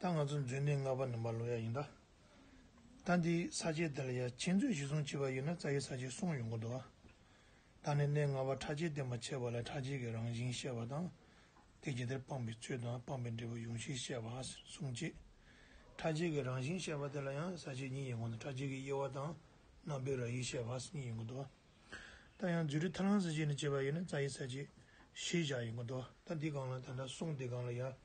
ད་ང་ཚོ་མཛོད་འདི་སྔར་བ་ནི་མར་ལོ་ཡག་ཡིན་ད། ད་འདིའི་ས་ཆའི་དེ་ལ་ཡ་ཁྱེད་མཛོད་གཞི་བཟུང་བྱས་པ་ཡིན་ན་རྩ་ཡི་ས་ཆའི་སྲུང་ཡོང་གི་འདུག་ད་ནི་གནས་ལྔ་བ་ཁྲ་ཆེན་སྟེ་མ་ཆེ་བ་ལ་ཁྲ་ཆེན་གྱི་རང་བཞིན་བཤད་པ་དང། དེ་ཇི་ལྟར་སྤངས་པའི་ཚུལ་དང་སྤངས་པའི་འབྲས་བུ་ཡོངས་ཤེས་བཤད་པ་གསུངས་རྗེས། ཁྲ་ཆེན་གྱི་རང་བཞིན་བཤད་པ་དེ་ལ་ཡང་ས་ཆའི་གཉིས་ཡིན་གོང་དུ་ཁྲ་ཆེན་གྱི་དབྱེ་བ་དང་རྣམ་པའི་ར་ཡིག་བཤད་པ་གཉིས་ཡིན་གྱི་འདུག་ད་ཡང་མཛོད་ཁྲི་ཐ་ལང་ས་ཆའི་ནི་བྱས་པ་ཡིན་ན་རྩ་ཡི་ས་ཆའི་ཤེས་བྱ་ཡིན་གྱི་འདུག་ད་འདི་གང་ལ་དེ་འདྲ་གསུངས་དེ་གང་ལ་ཡ།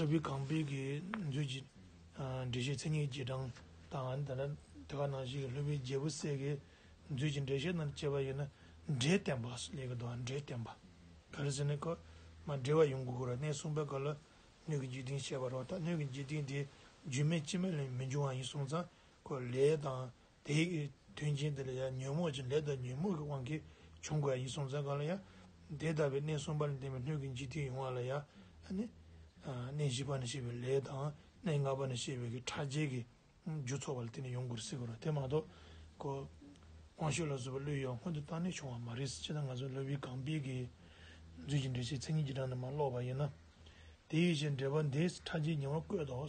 ལྷ་བུའི་ཁང་པའི་དགེ་མཛོད་ཀྱི་འགྲེལ་བཤད་ཚན་གཉིས་རྗེས་འབྲང་དང། དེ་ག་ནང་བཞིན་གྱི་ལྷ་བུའི་རྒྱལ་པོ་སྲས་དགེ་མཛོད་ཀྱི་འགྲེལ་བཤད་རྣམས་དཔྱད་པ་ཡིན་ན། འགྲེལ་བསྟན་པ་ལས་ཀྱི་དོན་འགྲེལ་བསྟན་པ། ག་རེ་ཟེར་ནས་ཀརྨ་འགྲེལ་བ་ཡོངས་ཀྱི་སྐོར་གནས་གསུམ་པའི་སྐབས་ལ་སྣོད་ཀྱི་འཇིག་རྟེན་བཤད་པར་རོ། ད་སྣོད་ཀྱི་འཇིག་རྟེན་དེ་རྒྱུ་མེད་ཕྱི་མ་ལས་མི་འབྱུང་བ་ཡིན་གསུངས་ཙང་ཀོ་ལེ་དང་དེའི་དོན་ཅན་དེ་ལ་ཡང་ཉོན་མོངས་ཀྱི་ལས་དང་ཉོན་མོངས་ཀྱི་དབང་གིས་བྱུང་བ་ཡིན་གསུངས་ཙམ་གང་ལ་ཡང། དེ་ལྟ་བུའི་གནས་གསུམ་པ་ལ་བརྟེན་པའི་སྣོད་ཀྱི་འཇིག་རྟེན་ཡོང་བ་ལ་ཡང། གནས་བཞི་པ་ན་བཤད་པའི་ལས་དང་གནས་ལྔ་པ་ན་བཤད་པའི་ཕྲ་རྒྱས་ཀྱི་རྒྱུ་ཚོགས་པ་ལ་བརྟེན་ནས་ཡོང་དགོས་རེད་ཟེར་གི་རེད་དེ་མ་གཏོགས། ཀོ། དབང་ཤུགས་ལ་བཟོ་བའི་བློའི་ཡང་སྔོན་དུ་བཏང་ནས་བྱུང་བ་མ་རེད། ཅི་ལྟར་ང་ཚོས་བློ་བི་གང་སྤེལ་གྱི་རྫུན་གྱི་འགྲེལ་བཤད་མཚན་ཉིད་ཀྱི་དྲང་ནས་མ་ཀློག་པ་ཡིན་ན། དེའི་ཕྱིར་འགྲེལ་པ་འདིའི་ཕྲ་རྒྱས་ཉེ་བར་བཀོད་དོ།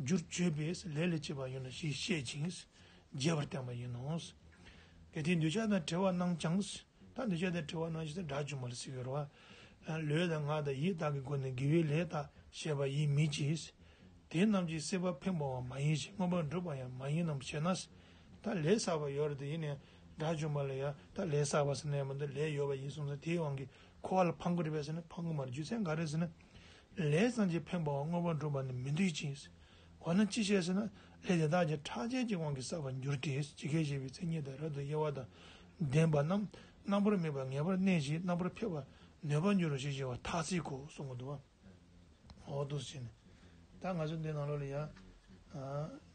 རྒྱུར་བརྗོད་པས་ལས་ལས་བྱེད་པ་ཡིན་ནོ་ཞེས་བཤད་ཅིང་རྒྱས་པར་བསྟན་པ་ཡིན་ནོ། གལ་ཏེ་འདོད་ཆགས་དང་བྲལ་བ་རྣམས་ཀྱང་དང་འདོད་ཆགས་དང་བྲལ་བ་རྣམས་ཞེས་སྒྲ་ཅུང་མ་ལ་སིག་རོ། ལུས་དང་ངག་དང་ཡིད་དག་གི་སྒོ་ནས་དགེ་བའི་ལས་དག་བྱས་པ་ཡིན་མི་བགྱིས། དེ་རྣམས་ཀྱིས་སྲེད་པ་འཕེན་པའང་མ་ཡིན་ཞིང་མངོན་པར་འགྲུབ་པ་ཡང་མ་ཡིན་ནམ་ཞེ་ན། ད་ལས་བསགས་པ་ཡོད་རེ་ད་ཡིན་ནས་སྒྲ་ཅུང་མ་ལ་ཡང་ད་ལས་བསགས་པ་ཟེར་ན་ཡང་མི་འདུག་ལས་ཡོད་པ་ཡིན་གསུངས་ཟིན་དེའི་དབང་གིས་འཁོར་བ་ལ་ཕངས་པོ་རེད་པས་ཟེར་ན་ཕངས་ཀྱི་མ་རེད་རྒྱུ་མཚན་ག་རེ་ཟེར་ན། ལས་སངས་རྒྱས་ཕན་པ་བ་དངོས་པོ་འགྲུབ་པ་ནི་མི་འདོད་ཅིང། འོ་ན་ཅི་བྱེད་ཟེར་ན། ལས་དེ་དག་ཀྱང་ཕྲག་བྱས་ཀྱི་དབང་གིས་བསགས་པར་འགྱུར་ཏེ་ཇི་སྐད་བཤད་པའི་མཚན་ཉིད་དང་རབ་ཏུ་དབྱེ་བ་དང་ལྡན་པ་རྣམས་རྣམ་པར་སྨིན་པ་ངེས་པར་གནས་ཞེས་རྣམ་པར་འཕེལ་བར་ནུས་པར་འགྱུར་རོ་ཞེས་བྱ་བ་ཐ་ཚིག་གོ་གསུང་གོ། འོག་ཏུ་བྱས་ནས་ད་ང་ཚོས་འདི་ནང་ལོགས་ལ་ཡང།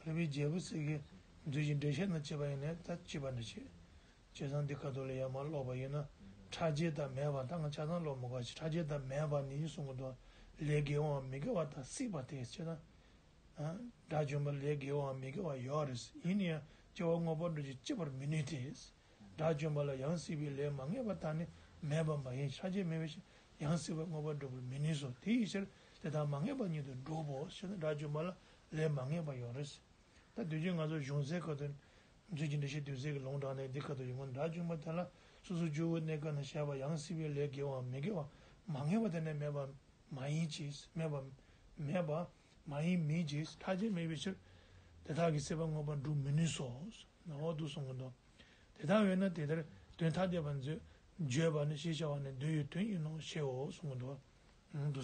རི་བོའི་རྒྱལ་པོ་གསེར་གྱི་མཛོད་ཅིག་འབྲེལ་བཤད་ན་ཅེས་པ་ཡིན་ནས་ད་ཅེས་པ་འདྲ་བྱེད། བྱས་ཙང་འདི་ག་དུ་ལ་ཡང་མ་ཀློག་པ་ཡིན་ན་ཕྲ་རྒྱས་དག་མེད་པ་དང་ཆ་ཚང་ཀློག་མི་དགོས་ཕྲ་རྒྱས་དག་མེད་པ་ནི་གསུང་གི་མདོ་ལས་དགེ་བའམ་མི་དགེ་བ་དག་སྲིད་པ་དེ་ཕྱིར་ན། དགྲ་བཅོམ་པ་ལས་དགེ་བའམ་མི་དགེ་བ་ཡོད་རེད་ཡིན་ནི་ཡང་སྐྱེ་བ་དངོས་པོ་འགྲོ་བྱེད་ཅེས་པར་མི་ནུས་ཏེ། དགྲ་བཅོམ་པ་ལ་ཡང་སྲིད་པའི་ལས་མ་ངེས་པ་དག་ནི་མེད་པ་མ་ཡིན་ཕྲ་རྒྱས་མེད་པའི་ཕྱིར་ཡང་སྲིད་པའི་དངོས་པོ་འགྲོ་བར་མི་ནུས་སོ་དེའི་ཕྱིར་དེ་དག་མ་ངེས་པ་ཉིད་དུ་འགྲུབ་བོ་ཞེ་ན་དགྲ་བཅོམ་པ་ལ་ལས་མ་ངེས་པ་ཡོད་རེད། ད་བདུད་བརྒྱུད་ང་ཚོ་གཞུང་སའི་ཁ་ཏུ་འཛུལ་གྱིན་འདྲ་ཞེས་བདུད་སྲས་ཀྱི་ལུང་དྲངས་ནས་འདི་ཁ་ཏུ་ཡོང་མཁན་དགྲ་བཅོམ་པ་དེ་ལ་སོ་སོ་ཇོ་བོའི་གནས་སྐབས་ན་བཤད་པ་ཡང་སྲིད་པའི་ལས་དགེ་བའམ་མི་དགེ་བ་མ་ངེས་པ་དེ་ནས་མེད་པ་མ་ཡིན་ཅེས་སྨྲས་པ། མེད་པ། མ་ཡིན་མིན་ཅེས་ཐ་ཆད་སྨྲས་པའི་ཕྱིར། དེ་དག་གིས་སྲེད་པ་དངོས་པོར་འགྲུབ་མི་ནུས་སོ། ནང་འོག་ཏུ་གསུངས་ཀྱི་མདོ། དེ་ལྟར་བས་ན་དེ་ལྟར་དོན་ཐ་དད་པར་མཛོད། བརྗོད་པ་ནི་ཞེས་བྱ་བ་ནི་མདོའི་ཡུལ་དོན་ཡིན་ནོ་ཞེའོ་གསུངས་ཀྱི་མདོ།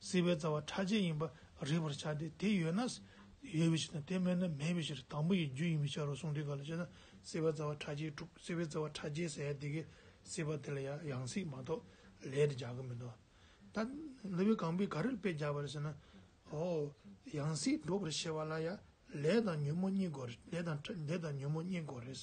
བསིལ་བའི་རྩ་བ་ཁྲག་ཆད་ཡིན་པ་རིག་པར་བྱ་སྟེ་དེ་ཡོད་ན་ཡོད་པའི་ཕྱིར་དང་དེ་མེད་ན་མེད་པའི་ཕྱིར་དང་པོ་ཡི་རྒྱུ་ཡིན་པའི་ཕྱིར་རོ་གསུངས་འདི་ག་ལ་བྱེད་ན་བསིལ་བའི་རྩ་བ་ཁྲག་ཆད་འཁྲུགས་བསིལ་བའི་རྩ་བ་ཁྲག་ཆད་ཟད་ཡང་དེ་གའི་བསིལ་བ་དེ་ལ་ཡང་སྲིད་མ་གཏོགས་ལས་དེ་རྒྱག་གི་མི་འདུག་ད། ལུས་པའི་གང་པོས་ག་རེ་དཔེ་རྒྱག་པ་རེད་ཟེར་ན། ཨོ། ཡང་སྲིད་འགྲོ་བར་བྱེད་པ་ལ་ཡང་ལས་དང་ཉོན་མོངས་གཉིས་དགོས་རེད་ལས་དང་ཉོན་མོངས་གཉིས་དགོས་རེད།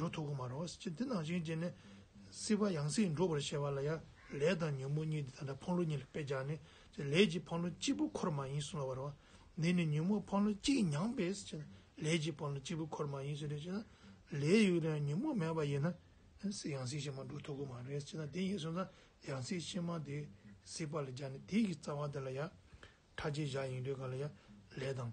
འགྲོ་ཐུབ་ཀྱི་མ་རེད། སྤྱིར་འདི་ནང་བཞིན་བྱས་ནས་སྲིད་པ་ཡང་སྲིད་འགྲོ་བར་བྱེད་པ་ལ་ཡང་ལས་དང་ཉོན་མོངས་གཉིས་འདི་དང་འདྲ་འཕང་ལོ་གཉིས་ལ་བེད་སྦྱར་ནས་ལས་ཀྱི་འཕང་ལོ་གཅིག་པུ་འཁོར་མ་ཡིན་གསུངས་ལ་བ་རེད། འདི་ནི་ཉོན་མོངས་འཕང་ལོ་གཅིག་མྱངས་པས་ལས་ཀྱི་འཕང་ལོ་གཅིག་པུ་འཁོར་མ་ཡིན་ཟེར་ཞེ་ན། ལས་ཡོད་ཀྱང་ཉོན་མོངས་མེད་པ་ཡིན་ན་སྲིད་ཡང་སྲིད་ཕྱི་མ་འགྲོ་ཐུབ་ཀྱི་མ་རེད་ཅེ་ན་དེ་ཡིན་གསུངས་ན་ཡང་སྲིད་ཕྱི་མ་དེ་སྲིད་པ་ལ་སྦྱར་ནས་དེ་ཡི་རྩ་བ་དེ་ལ་ཡང་ཕྲ་རྒྱས་བཞག་ཡིན་དུས་ག་ལ་ཡང་ལས་དང།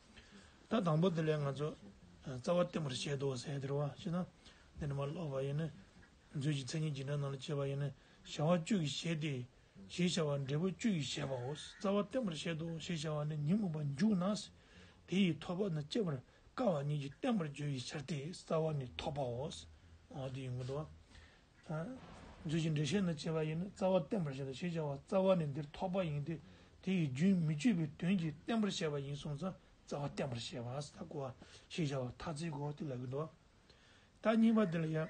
ད་དང་པོ་དེ་ལས་ང་ཚོ་རྩ་བ་བརྟན་པར་བྱེད་དོ་ཟེར་དེར་བ་ཅི་ན་འདི་ནི་མ་ལོག་པ་ཡིན། མཛོད་ཀྱི་མཚན་ཉིད་ཇི་འདྲ་རྣམས་ལ་དཔྱད་པ་ཡིན། བྱ་བ་བཅུ་ཡིས་བྱེད་དེ། ཞེས་བྱ་བ་འབྲས་བུ་བཅུ་ཡིས་བྱེད་པའོ། རྩ་བ་བརྟན་པར་བྱེད་དོ་ཞེས་བྱ་བ་ནི་ཉིན་མོ་བ་མཇུག་ན། དེ་ཡི་ཐོབ་པ་ནི་དཔྱད་པར་དཀའ་བ་ཉིད་ཀྱིས་བརྟན་པར་བརྗོད་ཡིས་བྱར་ཏེ་རྩ་བ་ནི་ཐོབ་པའོ། འདི་ཡིན་ངོ། དང། རྫས་ཀྱི་འགྲེལ་བཤད་ནི་བྱེད་པ་ཡིས་ནི་རྩ་བ་བསྟན་པར་བྱེད་དོ་ཞེས་བྱ་བ་རྩ་བ་ནི་འདིར་ཐོགས་པ་ཡིན་ཏེ་དེ་ཡི་རྒྱུན་མི་གཅོད་པའི་དོན་གྱིས་བསྟན་པར་བྱ་བ་ཡིན་གསུངས་ཙང་རྩ་བ་བསྟན་པར་བྱེད་པ་ཨ་སྟ་གོ་ཞེས་བྱ་བ་ཐ་ཚིག་གོ་དེ་ལ་གྱི་མདོ་དང་གཉིས་པ་འདི་ལ་ཡང།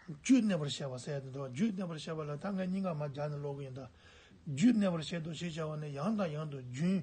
རྒྱུད་གནས་པར་བྱ་བ་ཟད་དེ་མདོ་རྒྱུད་གནས་པར་བྱ་བ་ལ་ད་ངས་སྙིང་ག་མ་སྦྱར་ནས་ཀློག་གི་ཡིན་ད། རྒྱུད་གནས་པར་བྱེད་དོ་ཞེས་བྱ་བ་ནི་ཡང་དང་ཡང་དུ་རྒྱུན་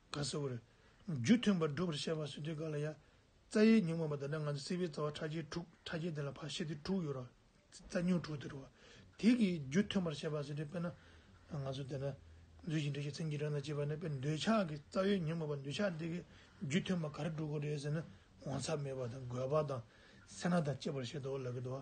ག་སེ་བོ། རྒྱུ་མཐུན་པར་བསྒྲུབ་པར་བཤད་པ་སྲིད་དུས་ག་ལ་ཡ། རྩ་ཡི་ཉིང་མངོན་པ་དེ་འདྲ་ང་ཚོ་སྲིད་པའི་རྩ་བ་ཕྲ་རྒྱས་དྲུག་ཕྲ་རྒྱས་དེ་ལ་བར་ཤེད་དེ་དྲུག་ཡོད་རོ། རྩ་སྙུག་དྲུག་དེ་རུ། དེ་གི་རྒྱུ་མཐུན་པར་བཤད་པ་སྲིད་དུས་དཔེར་ན། ང་ཚོ་དེ་འདྲ། རྫུས་ཤིང་བྲེལ་ཞིང་ཚིམ་གྱིས་རང་དང་བཅས་པ་ནི་དཔེར་འདོད་ཆགས་ཀྱི་རྩ་བའི་ཉིང་མངོན་པ་འདོད་ཆགས་དེ་གི་རྒྱུ་མཐུན་པ་ག་རེ་དྲུག་གོ་རེད་ཟེར་ན་འོང་ཚབ་མེད་པ་དང་རྒོད་པ་དང་སེར་སྣ་དང་བཅས་པར་བཤད་དོ་ལ་གི་དོ།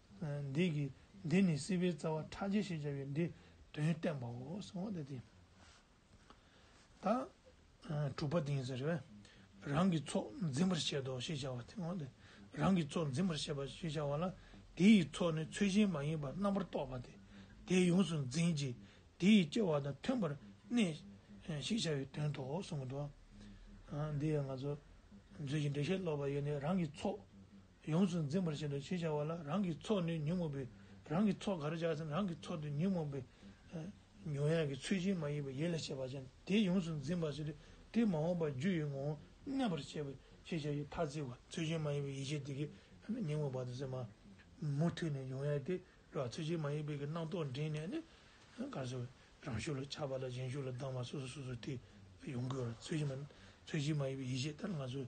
འདིས་ཀྱི། འདི་ནི་སྲིད་པའི་རྩ་བ་ཕྲ་རྒྱས་ཞེས་བྱ་བའི་འདིས་དོན་བསྟན་པའོ། དང། དྲུག་པ་དེང་ཟེར་བས། རང་གི་ཚོགས་འཛིན་པར་བཤད་དོ་ཞེས་བྱ་བ་སྟེ། རང་གི་ཚོགས་འཛིན་པར་བཤད་པ་ཞེས་བྱ་བ་ལ། དེ་ཡི་ཚོགས་ནི་ཚུལ་བཞིན་མ་ཡིན་པར་རྣམ་པར་རྟོག་པ་སྟེ། དེས་ཡོངས་སུ་འཛིན་ཅིང་དེ་ཡི་སྐྱེ་བ་དང་མཐུན་པར་གནས། ཞེས་བྱ་བའི་དོན་ཏོ་གསུངས། འདི་ཡང་ང་ཚོ་མཛོད་ཀྱི་འགྲེལ་བཤད་སློབ་པ་ཡོད་ནས་རང་གི་ཚོགས་ཡོངས་སུ་འཛིན་པར་བྱེད་དོ་ཞེས་བྱ་བ་ལ་རང་གི་ཚོགས་ནི་ཉོན་མོངས་པའི་རང་གི་ཚོགས་ག་རེ་བྱ་ཟིན་རང་གི་ཚོགས་དེ་ཉོན་མོངས་པའི་མྱོང་ཡང་གི་ཚུལ་ཅན་མ་ཡིན་པའི་ཡིད་ལ་བྱེད་པ་ཅན་དེ་ཡོངས་སུ་འཛིན་པར་བྱེད་དེ་དེ་མ་འོངས་པ་རྒྱུ་ཡི་ངོ་བོ་གནས་པར་བྱེད་པའི་ཤེས་བྱ་ཡི་ཐ་ཚིག་གོ། ཚུལ་ཅན་མ་ཡིན་པའི་ཡིད་བྱེད་དེ་གའི་ཉོན་མོངས་པ་དང་སེམས། མུ་མཐུད་ནས་མྱོང་ཡང་དེ་ལ་ཚུལ་ཅན་མ་ཡིན་པའི་གི་སྣང་རྟོག་འདྲེས་ནས་ནི། གར་སོགས་རང་ཤུགས་ལ་ཆགས་པ་དང་གཞན་ཤུགས་ལ་སྡང་བ་སོ་སོ་སོ་སོ་སྟེ་ཡོངས་གོལ་བ་ཚུལ་ཅན་མ་ཡིན་པའི་ཡིད་བྱེད་ལྟར་ང་ཚོས་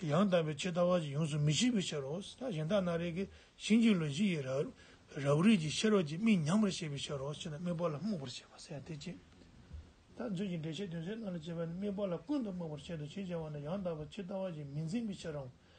ཡང་དག་པའི་ཕྱིར་ལྟ་བ་ཡོངས་སུ་མི་ཤེས་པའི་ཕྱིར་རོ། གཞན་དག་སྣ་རེག་གི་ཤིང་གཅིག་ལུས་གཅིག་ཡི་རབ་རིག་ཅིང་ཤེས་རབ་ཀྱི་མིག་ཉམས་པར་བྱེད་པའི་ཕྱིར་རོ་ཞེ་ན་དམིགས་པ་ལ་རྨུགས་པར་བྱེད་པ་ཟད་དེ་ཅི། ལྟ་ཚུལ་གྱི་འགྲེལ་བྱེད་དོན་ཚན་ལྔ་ལ་བྱེད་པ་ནི་དམིགས་པ་ལ་ཀུན་དུ་རྨུགས་པར་བྱེད་དོ་ཞེས་བྱ་བ་ནི་ཡང་དག་པའི་ཕྱིར་ལྟ་བ་ཡིས་མི་འཛིན་པའི་ཕྱིར་རམ།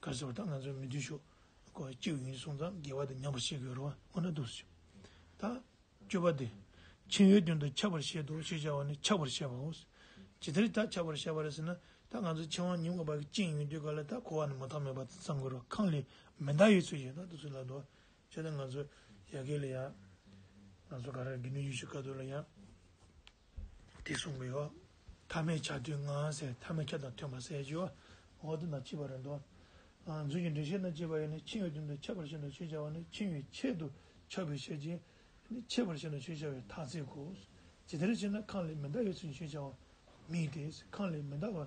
བཀའ་སྩལ་པ་དག་ང་ཚོ་མི་བརྟུལ་ཞུགས་སྒོ་གཅིག་ཡིན་གསུངས་ཙང་དགེ་བ་དེ་ཉམས་པར་བྱེད་དགོས་རུང་བ་ཁོ་ན་འདུག་ཟེར། ད། སྤྱོད་པ་འདི། ཕྱིན་ཡོད་དོན་དུ་ཁྱབ་པར་བཤད་དོ་ཞེས་བྱ་བ་ནི་ཁྱབ་པར་བཤད་པའོ། ཇི་ལྟར་ད་ཁྱབ་པར་བཤད་པ་རེད་ཟེར་ན། ད་ང་ཚོ་ཕྱིན་དབང་ཉམས་དགོས་པ་གཅིག་ཡིན་དུས་ག་ལ་ད་འཁོར་བ་ནི་མ་ཐག་མེད་པ་དེ་བསམ་དགོས་རུང་ཁང་ལས་མེ་མདའ་ཡོད་ཚོད་ཡོད་ན་དུ་སུ་ལ་འདོད། ཅེས་དང་ང་ཚོ་ཡ་གི་ལ་ཡ། ང་ཚོ་ག་རེ་རེ་དགེ་འདུན་ཡུལ་ཤུལ་དཀའ་སྡུག་ལ་ཡ། དེ་གསུངས་པའི་འོ། ཐ་མའི་ཆ་དུས་ངའང་ཟས་ཐ་མའི་ཆ་དང་མཐུན་པ་ཟས་ཀྱི་འོ། འོ་དེ་ན་ལྕི་བ་རེ་འདོད། རྫུན་གྱི་འགྲེལ་བཤད་ན་ལྕི་བ་ཡོད་ནི་འཆིང་བའི་དོན་དུ་ཆད་པར་བྱེད་དོ་ཞེས་བྱ་བ་ནི་འཆིང་བའི་ཆེད་དུ་ཆགས་པའི་ཕྱིར་གྱིས། ཆད་པར་བྱེད་དོ་ཞེས་བྱ་བའི་ཐ་ཚིག་གོ། ཇི་ལྟར་བྱས་ན་ཁང་ལས་མི་འདའ་བའི་ཚུལ་ཞེས་བྱ་བ། མིག་དེས་ཁང་ལས་མི་འདའ་བར་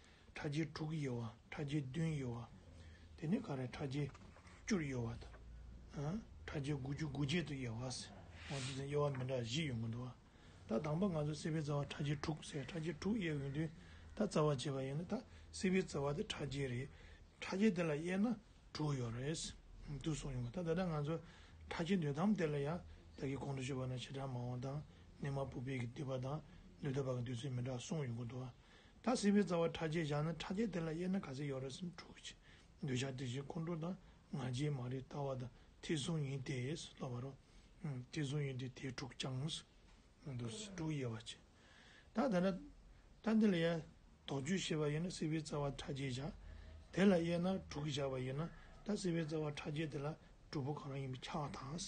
ཕྲ་རྒྱས་དྲུག་གཡོ་བ་ཕྲ་རྒྱས་བདུན་གཡོ་བ། དེ་ནས་ག་རེ་ཕྲ་རྒྱས་བཅུར་གཡོ་བ་དང། ཕྲ་རྒྱས་དགུ་བཅུ་དགུ་བརྒྱད་དུ་དབྱེ་བ། ང་ཚོ་ཚང་གཡོ་བ་མི་འདྲ་བཞི་ཡོད་མགོ་འདུག་ཨ། ད་དང་པོ་ང་ཚོ་བསྲེས་པའི་རྩ་བ་ཕྲ་རྒྱས་དྲུག་ཟེར་ཕྲ་རྒྱས་དྲུག་དབྱེ་འོས་དུས་ད་རྩ་བ་བྱས་པ་ཡིན་ན་ད་བསྲེས་པའི་རྩ་བ་དེ་ཕྲ་རྒྱས་རེད། ཕྲ་རྒྱས་དེ་ལ་དབྱེ་ན་དྲུག་ཡོད་རེད། དུ་སོང་ཡོང་གི་ད་ད་ལྟ་ང་ཚོ་ཕྲ་རྒྱས་འདོད་དམ་དེ་ལ་ཡང་བདག་གིས་གོང་དུ་ཤོད་པ་ན་བྱེ་བྲག་མ་འོངས་དང་གནས་མ་བུ་སྤེལ་གྱི་འདུས་པ་དང་འདུས་ཐོབ་པ་གི་འདུས་ཚུལ་མི་འདྲ་སོང་ཡོང་གི་འདུག་ཨ། ད་བསིལ་བའི་རྩ་བ་ཕྲ་རྒྱས་བཞག་ན་ཕྲ་རྒྱས་དེ་ལ་དབྱེ་ན་ག་ཚད་ཡོད་རེད་སེམས་འཁྲུག་གི། འདོད་ཆགས་དེ་བཞིན་ཁོང་ཁྲོ་དང་ང་རྒྱལ་མ་རིག་ལྟ་བ་དང་ཐེག་གཟུང་ཡིན་ཏེ་སློབ་བ་རོ། ཐེག་གཟུང་ཡིན་ཏེ་དེས་འཁྲུག་བཅངས། མི་འདོར་སེམས་འཁྲུག་དབྱེ་བ་ཅན། ད་དེ་ལ། ད་འདི་ལ་ཡ། དོགས་གཅོད་བྱེད་པ་ཡིན་ན་བསིལ་བའི་རྩ་བ་ཕྲ་རྒྱས་བཞག། དེ་ལ་དབྱེ་ན་འཁྲུག་གི་བཞག་པ་ཡིན་ན་ད་བསིལ་བའི་རྩ་བ་ཕྲ་རྒྱས་དེ་ལ་གྲུབ་པོ་གང་རང་ཡིན་པའི་ཁྱག་དང།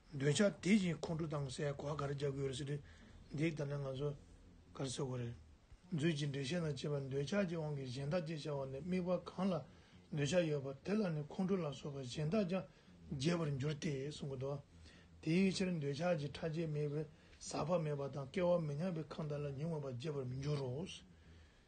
འདོད་ཆགས་དེ་བཞིན་ཁོང་ཁྲོ་དང་བསལ་བགག་གར་རྒྱག་གི་ཡོད་རེད་ཟེར་དུས། འདི་ལྟར་ན་ང་ཚོ་གར་བསལ་དགོས་རེད། མཛོད་ཀྱི་འགྲེལ་བཤད་ལ་དཔྱད་པ་འདོད་ཆགས་ཀྱི་དབང་གིས་གཞན་དག་ཅེས་བྱ་བ་ནི་དམིགས་པ་གང་ལ་འདོད་ཆགས་ཡོད་པ་དེ་ལ་ནི་ཁོང་ཁྲོ་ལ་སོགས་པ་གཞན་དག་ཀྱང་རྒྱས་པར་འགྱུར་ཏེ་གསུངས་པ་དང། དེའི་ཕྱིར་འདོད་ཆགས་ཀྱི་ཕྲ་རྒྱས་དམིགས་པའི་ཟག་པ་མེད་པ་དང་སྐལ་བ་མི་མཉམ་པའི་ཁམས་དག་ལ་ཉོན་མོངས་པ་རྒྱས་པར་མི་འགྱུར་རོ།